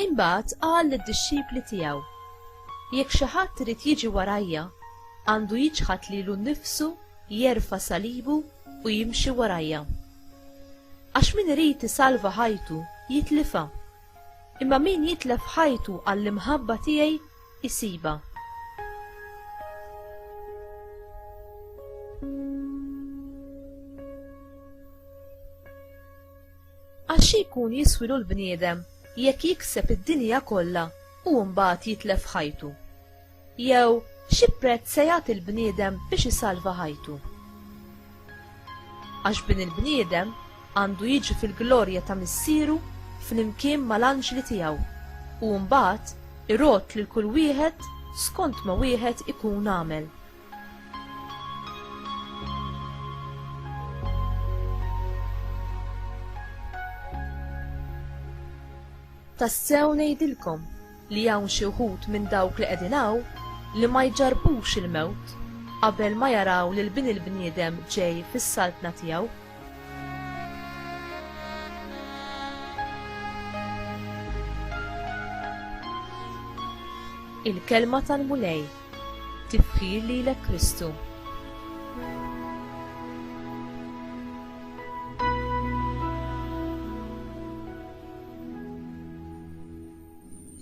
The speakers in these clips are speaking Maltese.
Imbagħad qal lid-dixxipli tiegħu, Jekk xi ħadd irid jiġi warajja, għandu jiċħad lilu nnifsu, jerfa' salibu u jimxi warajja. Għax min irid isalva ħajtu jitlifha, Imma min jitlef ħajtu għall-imħabba tiegħi jsibha. Għax xi jkun jiswilu l-bniedem jekk jikseb id-dinja kollha u mbagħad jitlef ħajtu? Jew xi prezz se jagħti l-bniedem biex isalva ħajtu? Għax bin il-bniedem għandu jiġi fil-glorja ta' Missieru flimkien mal-anġli tiegħu u mbagħad irott lil kull wieħed skont ma wieħed ikun għamel. Tassew ngħidilkom li hawn xi wħud minn dawk li qegħdin hawn li ma jġarrbux il-mewt qabel ma jaraw lil Bin il-bniedem ġej fis-Saltna tiegħu. Il-Kelma tal-Mulej Tifħir lilek Kristu.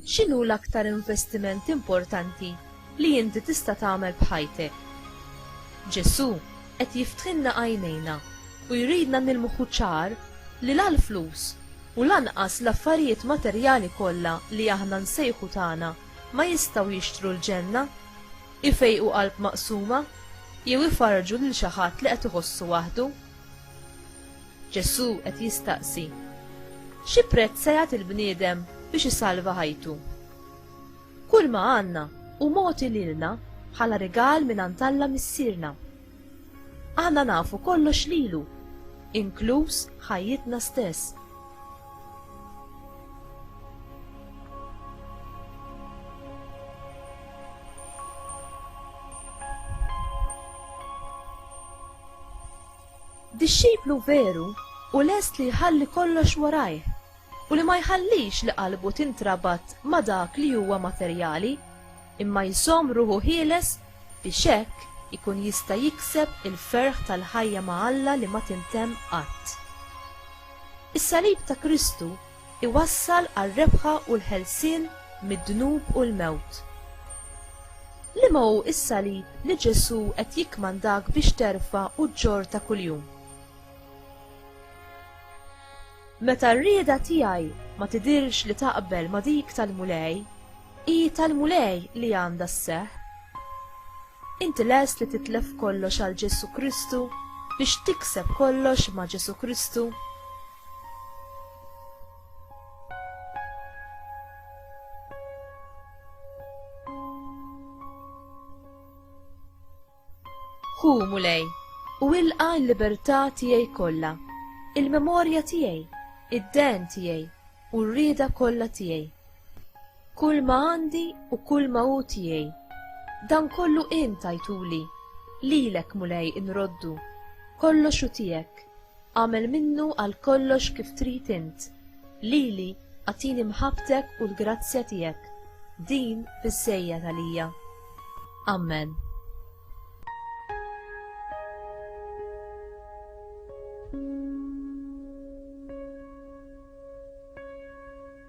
X'inhu l-aktar investiment importanti li inti tista' tagħmel b'ħajtek? Ġesù qed jiftħilna għajnejna u jridna nilmħu ċar li la l-flus u lanqas l-affarijiet materjali kollha li aħna nsejħu tagħna ma jistgħu jixtru l-ġenna, ifejqu qalb maqsuma, jew ifarrġu lil xi ħadd li qed iħossu waħdu. Ġesù qed jistaqsi, Xi prezz se jagħti l-bniedem biex isalva ħajtu? Kulma għandna hu mogħti lilna bħala rigal mingħand Alla Missierna. Aħna nafu kollox lilu, inkluż ħajjitna stess. Dixxiplu veru hu lest li jħalli kollox warajh u li ma jħallix li qalbu tintrabat ma' dak li huwa materjali, imma jżomm ruħu ħieles biex hekk ikun jista' jikseb il-ferħ tal-ħajja ma' Alla li ma tintemm qatt. Is-salib ta' Kristu iwassal għar-rebħa u l-ħelsien mid-dnub u l-mewt. Liema hu s-salib li Ġesù qed jikkmandak biex terfa' u ġġorr ta' kuljum? Meta r-rieda tiegħi ma tidhirx li taqbel ma' dik tal-Mulej, hi tal-Mulej li għandha sseħħ. Inti lest li titlef kollox għal Ġesù Kristu biex tikseb kollox ma' Ġesù Kristu? Hu mulej, u ilqa l-libertà tiegħi kollha, il-memorja tiegħi, id-den tiegħi u r-rieda kollha tiegħi. Kull ma għandi u kull ma hu tiegħi, dan kollu int tajtuli, lilek mulej inroddu, kollox hu tiegħek. Agħmel minnu għal kollox kif trid int. Lili agħtini mħabbtek u l-grazzja tiegħek. Din biżżejjed għalija. Ammen.